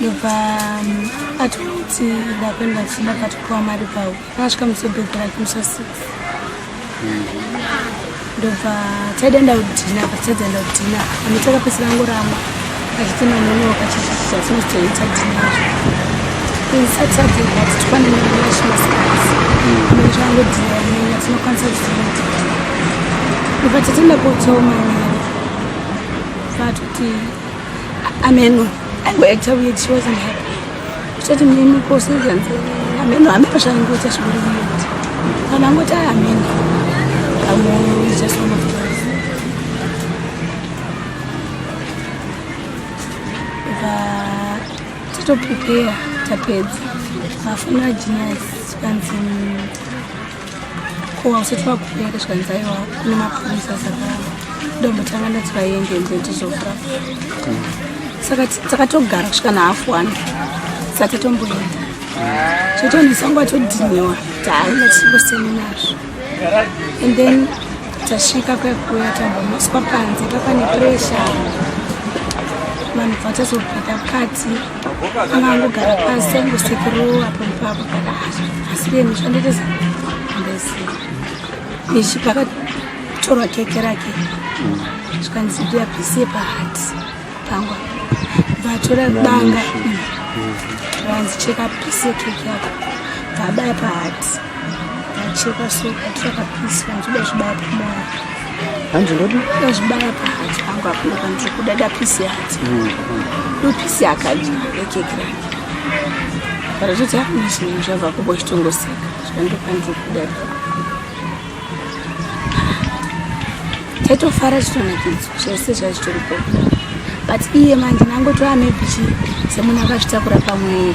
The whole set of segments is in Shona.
ndobva um, atikuti ndakuenda kuchida katopiwa mari pawo akasvika musobhedhi rake musa six ndobva taidaenda kudhina pataidaenda kudhina ami takapesera ngorama achiti manonoka chichicha sinozoita dhinacho saturday but tifanira kuenda chimasikati mene changu dhina imenya tinokwanisa kuzoita ndobva tatenda kotsoma nyaya But kuti ameno angoita weird she wasn't happy. Uchati mimi ko seasons ameno ameno zvaingoita zviri weird. Kana ngoti ameno kamoyo is just one of those. But tito prepare tapedza. Mafuna genius kanzi Ko usati wakuuya ndazvikanzi aiwa kune mapurisa saka ndombotanga ndati vaende nze ndizofra saka takatogara kusvika nahafu one sati tomboenda chotonisangwa todhiniwa tahaina tisingosemi nazvo and then tasvika kwekuya tambomuswa panze papane pressure vanhu vatazopika kati akangogara pasi angosekero apo ipapo kana asi iye mushandiriza andaiziva ichi pakatorwa keke rake zvikanzi ndiyabhisie pahati pangwa vatora banga vanzi cheka bhisie keke yako vabaya pahati vacheka so vatora kabhisi vanzi uda zvibaya pamoya hanzi ndodi ndozvibaya pahanzi pangu hakuna kana ndiri kuda dapisi hanzi dopisi akadya ekeki rake kana zvoti hakuna chinhu zvabva kubo chitongoseka zvandopandiri kuda taitofara chitonakidzwa zvese zvazvitoripo but iye manje nangotova maybe chi semunhu akazvitakura pamwere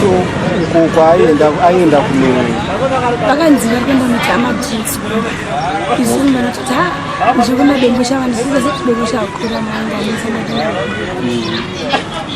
so uko kwaaenda aenda kunei vakanzi vari kuenda muti amadrinks isu vanototi ha nzvekumadembo chavandisize chidembo chakura maanga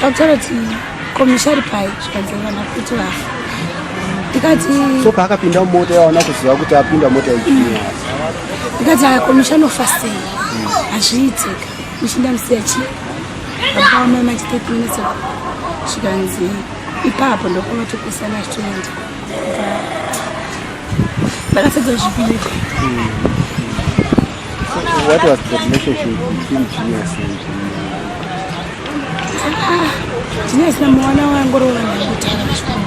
Sautara ti komishari pai zvikanzengana kuti vafa ndikati so paakapinda mumota yaona kuziva kuti apinda mota ichii ndikati akomishari ofasei hazviitika Ndichinda musiya chii? Akaoma manje 30 minutes ago. Zvikanzi ipapo ndokoma tokusana achitoenda. Ndakatadza zvipiri. What was the relationship between Genius and Genius na mwana wangu ro vanhu vakutanga kuchikoro.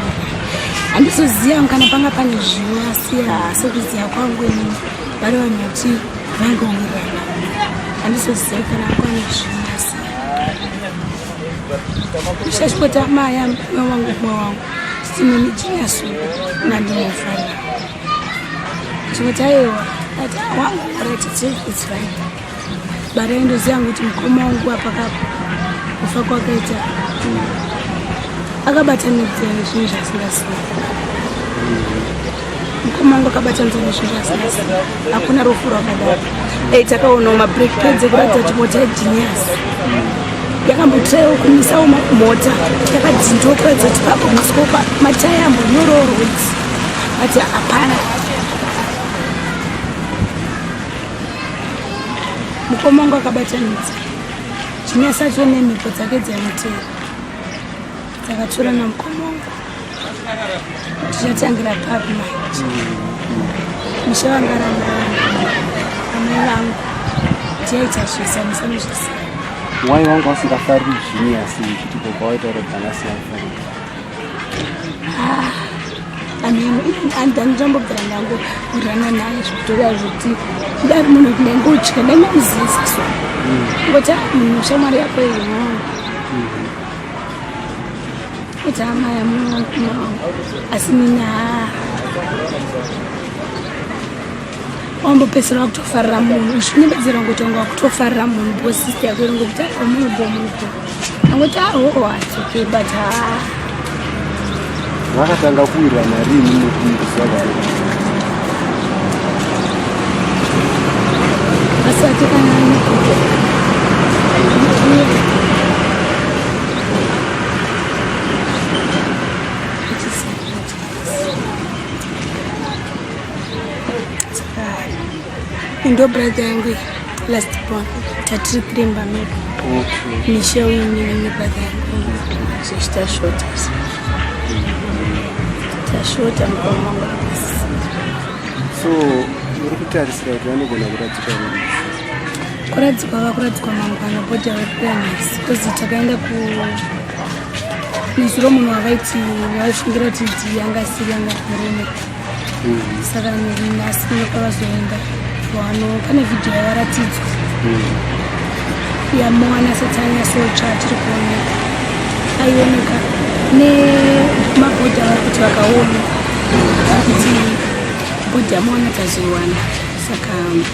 Handizoziva kana panga pane zvivo asi asi kuziva kwangu ini vari vanhu vati Ushashipota maya mwana wangu mwa wangu sitini nijina su na ndimofana chipota yewa ati wangu right it's it's right bara ndo zangu kuti mkoma wangu hapa kapo kufa kwakaita akabatanidza zvinhu zvasingasii mukoma wangu akabata nzeve zvinhu asasi hakuna rufu rwakadaro ei takaonawo mabreak pads ekuratidza kuti mota yegenius yakambotrayawo kumisawo mota yakadzindiwo kuratidza kuti papo musikopa mataya ambonyoroo roads but hapana mukoma wangu akabata nzeve genius acho nemhepo dzake dzaimutera dzakatorana mukoma wangu Tichatangira papi manje? Musha wanga ramani amai vangu tiyaita zvese amusana zvese. Why wangu wasingafariri zvinyi asi uchiti baba waita rebana siyafariri? Ah, ameno even andani ndambogara nangu kurana naye zvitova zviti kudari munhu kunenge uchika dai mamuzisiswa ngoti munhu shamwari yako iyoyo Kuti amai amuna asi mina wambopedzisira wakutofarira munhu uchinyebedzera ngokuti wanga wakutofarira munhu bo sister yako iri ngokuti aa munhu bo munhu bo angoti ahoo hatsoke but ha vakatanga kuwirwa narini nekumbisa vavo asati kana nekuto ndo brother yangu last born tatiri kuremba medu mishe uinini brother yangu zvichitashota tashota mukomanga so uri kutarisira kuti vanogona kuradzika kuradzikwa vakuradzikwa mangwana body awareness because takaenda ku nezuro munhu wavaiti vaishingira kuti ti yanga asiri yanga murume mm-hmm. saka nhasi ndoka vazoenda vano pane vhidhiyo yavaratidzwa mm-hmm. yamowana satanya socha tiri kuoneka aioneka nemabhodhi avari kuti vakaona kuti bhodhi yamowana tazoiwana saka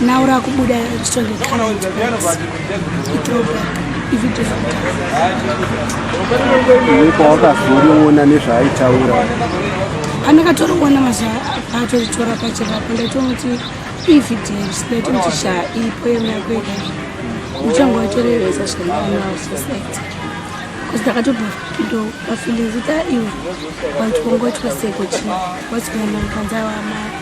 Now rakubuda rito the current price. Ndipo wakazoriona nezvaaitaura. Pandakatoriona mazuva atoritora pachirapa ndaitomuti evidence ndaitomuti sha ipo yemako yega uchange watorevesa zvainaa society because ndakatobva ndo pafeeling kuti aiwe wandiwongoitwa seko chii what's going on panza wamai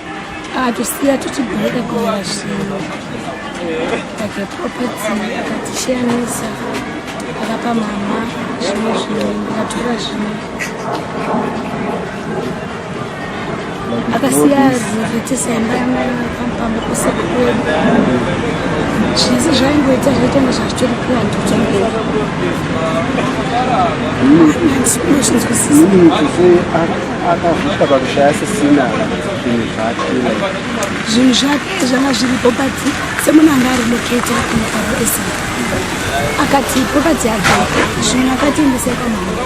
akatosiya tichibheka kunyaya zvinhu like property akatishiyanisa akapa mama zvimwe zvinhu ndikatora zvimwe akasiya zvinotetisaimba yamapamba kuseko kwedu zvese zvaingoita zvaitanga zvachitori plandi kutongera akavhutwa pakushaya sisina zvinhu zvake zvinhu zvake zvanga zviripo but semuna anga ari loketa kunyikaroesa akati property yake zvimwe akatendesa kamhanga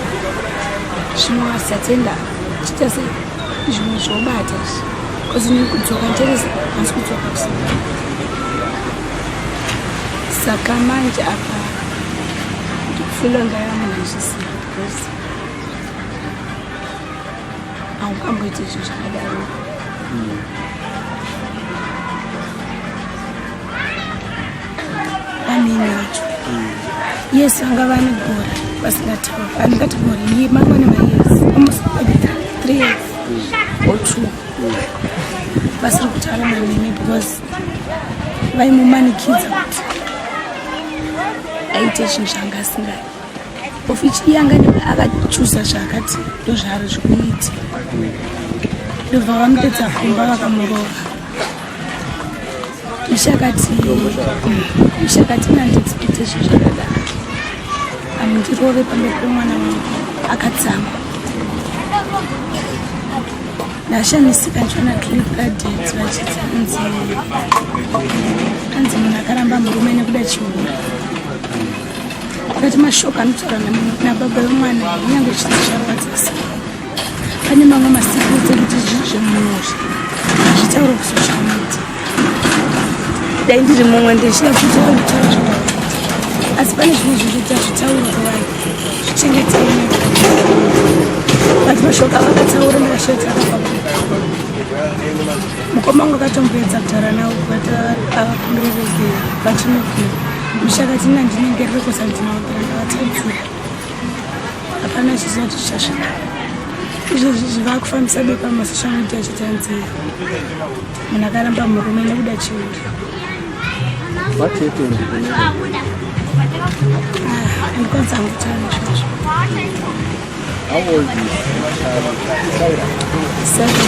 zvimwe asatenda chita se zvimwe zvobata bcause nekudzoka nteresa asi kudzoka kusa saka manje apa ndikufila ngayamuna zvisina haukamboite izvo zvakadaro hmm. amene wacho hmm. yes vanga vane gore vasingatauri andingati gore iye mangwana mayes almost three years hmm. or two vasiri kutaura namene because vaimumanikidza kuti aite chinhu changa asingai ofichi yanga nebe akachuza zvaakati ndozvaari zvikuiti ndobva vamutedza kumba vakamurova ishakati ishakati nanditsipite zvo zvakada amundirove pambe pemwana wangu akadzama ndashamisika ndichiona clip gadeti vachiti anzi anzi munhu akaramba murume nekuda chihure Kati mashoko anotaura nababa vemwana kunyange chiti charwadzisa pane mamwe masikudzi ekuti zvinhu zvemunhu izvi hazvitaure kusocial media dai ndiri mumwe ndichida kutaura kutaura zvakawanda asi pane zvimwe zvinhukuti hazvitaurwa kuvai zvichengetei vati mashoko avakataura ndakashaita akafa mukoma wangu akatomboedza kutaura navo kuvati avakumbirerezei vachinokuva Mushakati na ndinenge riri kusanzira kuranga vatadzira. Hapana chiziva kuti chichasvika. Izvozvi zvivakufambisa bepa masocial media chitanzira. Munhu akaramba murume nekuda chiuri. What happened? Ah, ndikwanisa kutaura izvozvo. How old is Saira? Seven.